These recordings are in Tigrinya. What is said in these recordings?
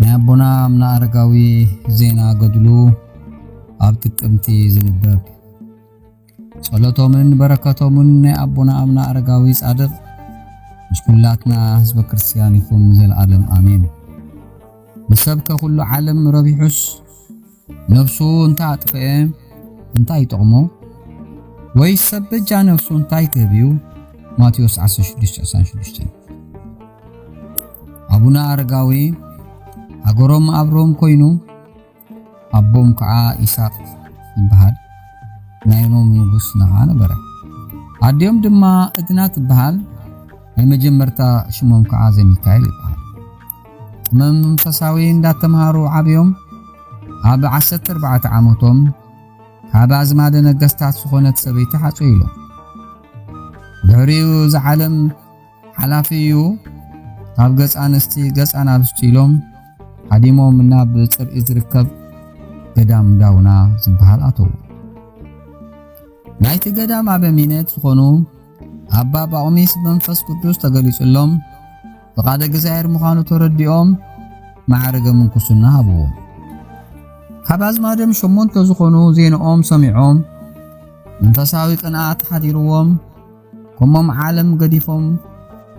ናይ ኣቦና ኣምና ኣረጋዊ ዜና ገድሉ ኣብ ጥቅምቲ ዝንበብ ጸሎቶምን በረከቶምን ናይ ኣቦና ኣምና ኣረጋዊ ጻድቕ ምስ ኩላትና ህዝበ ክርስትያን ይኹን ዘለዓለም ኣሜን። ንሰብከ ኩሉ ዓለም ረቢሑስ ነብሱ እንተ ኣጥፍኤ እንታይ ይጠቕሞ? ወይስ ሰብ በጃ ነብሱ እንታይ ክህብ እዩ? ማቴዎስ 16:96 ኣቡነ ኣረጋዊ ሃገሮም ኣብ ሮም ኮይኑ ኣቦም ከዓ ኢሳቅ ይበሃል ናይ ሮም ንጉስ ነኻ ነበረ። ኣዲኦም ድማ እድና ትበሃል ናይ መጀመርታ ሽሞም ከዓ ዘሚካኤል ይበሃል። መንፈሳዊ እንዳተምሃሩ ዓብዮም ኣብ ዓሰርተ ኣርባዕተ ዓመቶም ካብ ኣዝማደ ነገስታት ዝኾነት ሰበይቲ ሓጹይ ኢሎም ድሕሪኡ እዚ ዓለም ሓላፊ እዩ ካብ ገጽ ኣንስቲ ገጽ ኣናብስቲ ኢሎም ሓዲሞም ናብ ጽርኢ ዝርከብ ገዳም ዳውና ዝበሃል ኣተዉ ናይቲ ገዳም ኣበሚነት ዝኾኑ ኣባ ጳቁሚስ መንፈስ ቅዱስ ተገሊጹሎም ፍቓደ እግዚኣብሔር ምዃኑ ተረዲኦም ማዕርገ ምንኩስና ሃብዎ። ካብ ኣዝማዶም ሸሞንተ ዝኾኑ ዜንኦም ሰሚዖም መንፈሳዊ ቅንኣት ሓዲርዎም ከምም ዓለም ገዲፎም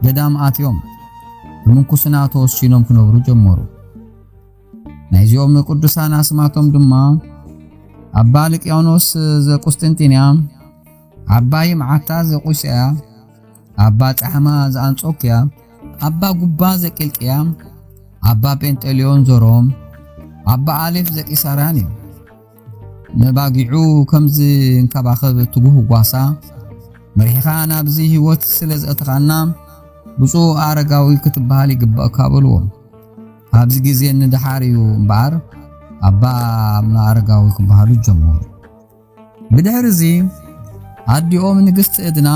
ገዳም ኣትዮም ብምንኩስና ተወሲኖም ክነብሩ ጀመሩ። ናይዚኦም ቅዱሳን ኣስማቶም ድማ ኣባ ልቅያኖስ ዘቁስጥንጢንያ ኣባ ይምዓታ ዘቁጽያ ኣባ ጻሕማ ዘኣንጾክያ ኣባ ጉባ ዘቂልጥያ ኣባ ጴንጠልዮን ዘሮም ኣባ ኣሌፍ ዘቂሳርያን እዮም። ነባጊዑ ከምዚ እንከባኸብ ትጉህ ጓሳ መሪሕኻ ናብዚ ህይወት ስለ ዘእተኻና ብፁዕ ኣረጋዊ ክትበሃል ይግባእካ በልዎ። ኣብዚ ግዜ ንደሓር እዩ እምበኣር ኣባ ኣምና ኣረጋዊ ክበሃሉ ጀመሩ። ብድሕሪ እዚ ኣዲኦም ንግስቲ እድና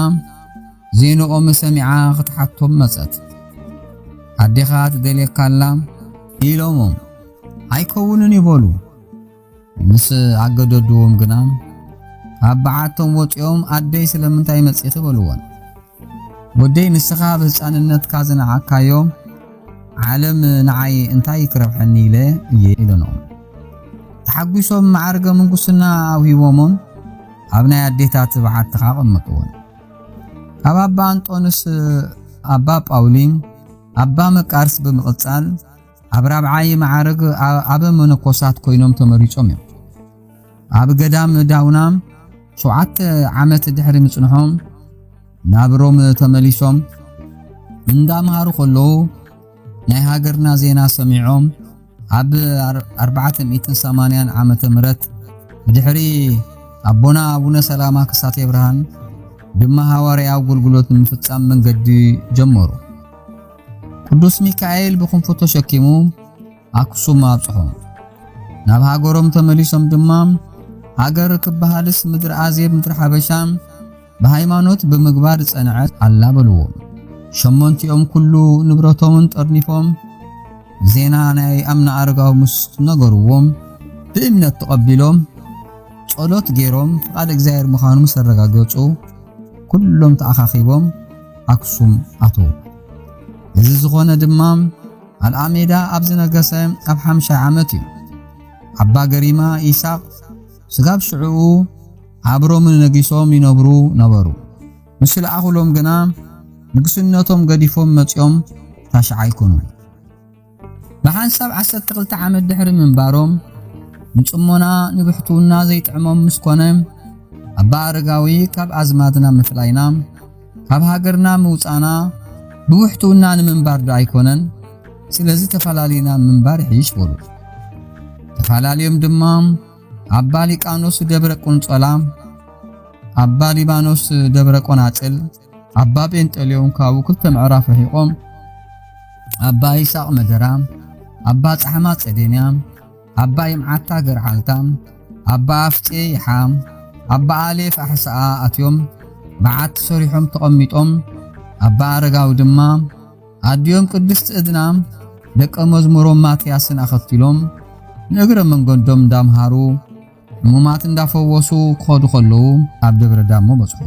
ዜንኦም ሰሚዓ ክትሓቶም መጸት። ኣዴኻ ትደልየካ ኣላ ኢሎሞም ኣይከውንን ይበሉ። ምስ ኣገደድዎም ግና ካብ በዓቶም ወጺኦም ኣደይ ስለምንታይ መጺኺ በልወን። ወደይ ንስኻ ኣብ ህጻንነትካ ዝነዓካዮ ዓለም ንዓይ እንታይ ክረብሐኒ ኢለ እየ ኢለኖ። ተሓጒሶም መዓርገ ምንኩስና ኣውሂቦሞን ኣብ ናይ ኣዴታት በዓቲ ኸኣ ኣቐመጥዎን። ካብ ኣባ ኣንጦንስ ኣባ ጳውሊን ኣባ መቃርስ ብምቕጻል ኣብ ራብዓይ መዓርግ ኣብ መነኮሳት ኮይኖም ተመሪጾም እዮም። ኣብ ገዳም ዳውና ሸውዓተ ዓመት ድሕሪ ምጽንሖም ናብ ሮም ተመሊሶም እንዳምሃሩ ከለዉ ናይ ሃገርና ዜና ሰሚዖም ኣብ 480 ዓመተ ምህረት ብድሕሪ ኣቦና ኣቡነ ሰላማ ክሳቴ ብርሃን ድማ ሃዋርያዊ ኣገልግሎት ንምፍጻም መንገዲ ጀመሩ። ቅዱስ ሚካኤል ብክንፉ ተሸኪሙ ኣክሱም ኣብጽሖ። ናብ ሃገሮም ተመሊሶም ድማ ሃገር ክበሃልስ ምድሪ ኣዜብ ምድሪ ሓበሻ ብሃይማኖት ብምግባር ጸንዐት ኣላ በልዎ። ሸሞንቲኦም ኩሉ ንብረቶምን ጠርኒፎም ዜና ናይ ኣምና ኣረጋዊ ምስ ነገርዎም ብእምነት ተቐቢሎም ጸሎት ገይሮም ፍቓድ እግዚኣብሔር ምዃኑ ምስ ኣረጋገጹ ኩሎም ተኣኻኺቦም ኣክሱም ኣተዉ። እዚ ዝኾነ ድማ ኣልኣሜዳ ኣብ ዝነገሰ ኣብ ሓምሻይ ዓመት እዩ። ኣባ ገሪማ ኢሳቕ ስጋብ ሽዕኡ ኣብ ሮም ነጊሶም ይነብሩ ነበሩ። ምስ ለኣኹሎም ግና ንግስነቶም ገዲፎም መጺኦም ታሽዓይ ኮኑ። ብሓንሳብ ዓሰርተ ክልተ ዓመት ድሕሪ ምንባሮም ንጽሞና ንብሕትውና ዘይጥዕሞም ምስ ኮነ ኣባ ኣረጋዊ ካብ ኣዝማድና ምፍላይና ካብ ሃገርና ምውጻና ብውሕትውና ንምንባር ዶ ኣይኮነን ስለዚ ተፈላለዩና ምንባር ይሕይሽ በሉ ተፈላለዮም ድማ ኣባ ሊቃኖስ ደብረ ቁንጸላ ኣባ ሊባኖስ ደብረ ቆናጽል ኣባ ጴንጠሌዎን ካብኡ ክልተ ምዕራፍ ርሒቖም ኣባ ይስሐቅ መደራ፣ ኣባ ጻሕማ ጸዴንያ፣ ኣባ ይምዓታ ገርዓልታ፣ ኣባ ኣፍጼ ይሓ፣ ኣባ ኣሌፍ ኣሕስኣ ኣትዮም በዓቲ ሰሪሖም ተቐሚጦም ኣባ ኣረጋዊ ድማ ኣዲኦም ቅድስቲ እድና ደቀ መዝሙሮም ማትያስን ኣኸትሎም ንእግረ መንገዶም እንዳምሃሩ ሙማት እንዳፈወሱ ክኸዱ ከለዉ ኣብ ደብረ ዳሞ በጽሑ።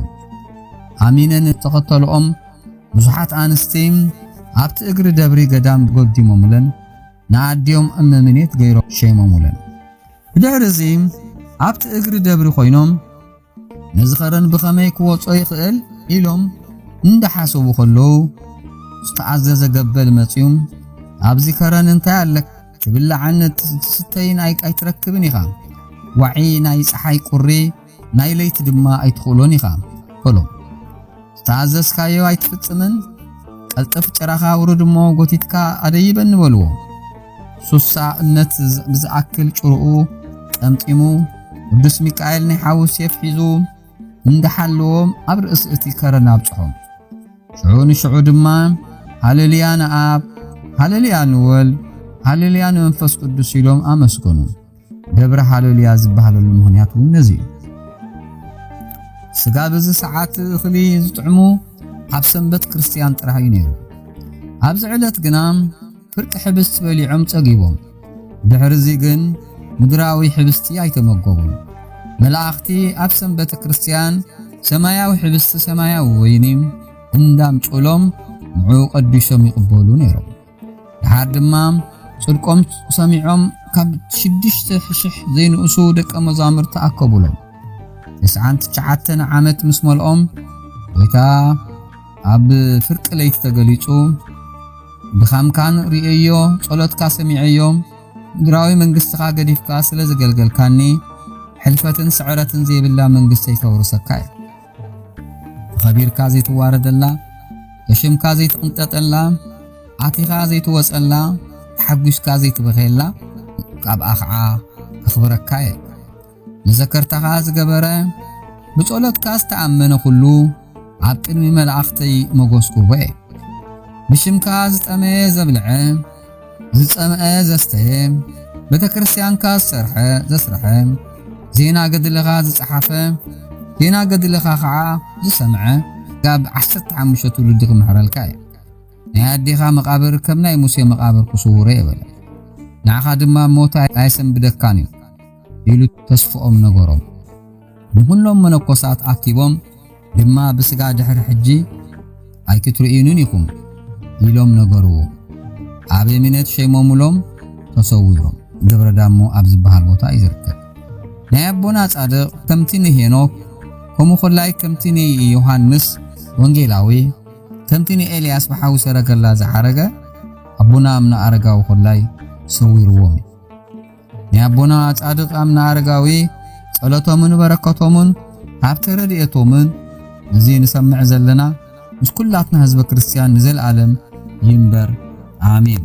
ኣሚነን ዝተኸተልኦም ብዙሓት ኣንስቲ ኣብቲ እግሪ ደብሪ ገዳም ጎዲሞምለን ንኣዲኦም እመምኔት ገይሮም ሸይሞሙለን። ብድሕሪ እዚ ኣብቲ እግሪ ደብሪ ኮይኖም ንዝኸረን ብኸመይ ክወጾ ይኽእል ኢሎም እንዳሓሰቡ ከለዉ ዝተኣዘዘ ገበል መጽዩ ኣብዚ ከረን እንታይ ኣለክ ትብላዕን ትስተይን ኣይትረክብን ኢኻ ዋዒ ናይ ፀሓይ ቁሪ ናይ ለይቲ ድማ ኣይትኽእሎን ኢኻ በሎም ዝተኣዘዝካዮ ኣይትፍጽምን? ቀልጥፍ ጭራኻ ውርድ እሞ ጎቲትካ ኣደይበኒ በልዎ። ሱሳ እምነት ብዝኣክል ጭርኡ ጠምጢሙ ቅዱስ ሚካኤል ናይ ሓዊ ሴፍ ሒዙ እንዳሓለዎም ኣብ ርእሲ እቲ ከረን ኣብጽሖ። ሽዑ ንሽዑ ድማ ሃሌሉያ ንኣብ፣ ሃሌሉያ ንወልድ፣ ሃሌሉያ ንመንፈስ ቅዱስ ኢሎም ኣመስገኑ። ደብረ ሃለሉያ ዝበሃለሉ ምክንያት እውን ነዚ እዩ ስጋ በዚ ሰዓት እኽሊ ዝጥዕሙ ኣብ ሰንበት ክርስትያን ጥራሕ እዩ ነይሩ ኣብዚ ዕለት ግና ፍርቂ ሕብስቲ በሊዖም ጸጊቦም ድሕርዚ ግን ምድራዊ ሕብስቲ ኣይተመገቡን መላእኽቲ ኣብ ሰንበተ ክርስትያን ሰማያዊ ሕብስቲ ሰማያዊ ወይኒ እንዳምጭሎም ንዑ ቀዲሶም ይቕበሉ ነይሮም ድሓር ድማ ጽድቆም ሰሚዖም ካብ ሽዱሽተ ሽሕ ዘይንእሱ ደቀ መዛሙርቲ ኣከቡሎም። ትስዓን ትሽዓተን ዓመት ምስ መልኦም ጐይታ ኣብ ፍርቂ ለይቲ ተገሊጹ ድኻምካን ርእየዮ፣ ጸሎትካ ሰሚዐዮ፣ ምድራዊ መንግስትኻ ገዲፍካ ስለ ዘገልገልካኒ ሕልፈትን ስዕረትን ዘይብላ መንግስተይ ከውርሰካ እየ። ተኸቢርካ ዘይትዋረደላ ብሽምካ ዘይትቕንጠጠላ ኣቲኻ ዘይትወጸላ ተሓጒስካ ዘይትበኸየላ ካብኣ ኸዓ ከኽብረካ እየ መዘከርታኻ ዝገበረ ብጸሎትካ ዝተኣመነ ዅሉ ኣብ ቅድሚ መላእኽተይ መጐስኩዎ እየ ብሽምካ ዝጠመየ ዘብልዐ ዝጸምአ ዘስተየ ቤተ ክርስቲያንካ ዝሰርሐ ዘስርሐ ዜና ገድልኻ ዝጸሓፈ ዜና ገድልኻ ኸዓ ዝሰምዐ ጋብ ዓሰርተ ሓሙሽተ ትውልዲ ክምሕረልካ እዩ ናይ ኣዴኻ መቓብር ከም ናይ ሙሴ መቓብር ክስውሮ የበለ ንዓኻ ድማ ሞት ኣይሰንብደካን እዩ ኢሉ ተስፍኦም ነገሮም። ንኹሎም መነኮሳት ኣኪቦም ድማ ብስጋ ድሕሪ ሕጂ ኣይክትርእዩንን ኢኹም ኢሎም ነገርዎ። ኣበሚኔት ሸይሞምሎም ተሰዊኦም። ደብረ ዳሞ ኣብ ዝበሃል ቦታ እዩ ዝርከብ። ናይ ኣቦና ጻድቕ ከምቲ ንሄኖክ ከምኡ ኮላይ ከምቲ ንዮሃንስ ወንጌላዊ ከምቲ ንኤልያስ ብሓዊ ሰረገላ ዝዓረገ ኣቦና እምነ ኣረጋዊ ኮላይ ሰዊርዎም እዩ። ናይ ኣቦና ጻድቕ ኣምና ኣረጋዊ ጸሎቶምን በረከቶምን ሃብቲ ረድኤቶምን እዚ ንሰምዕ ዘለና ምስ ኩላትና ህዝበ ክርስቲያን ንዘለዓለም ይንበር ኣሜን።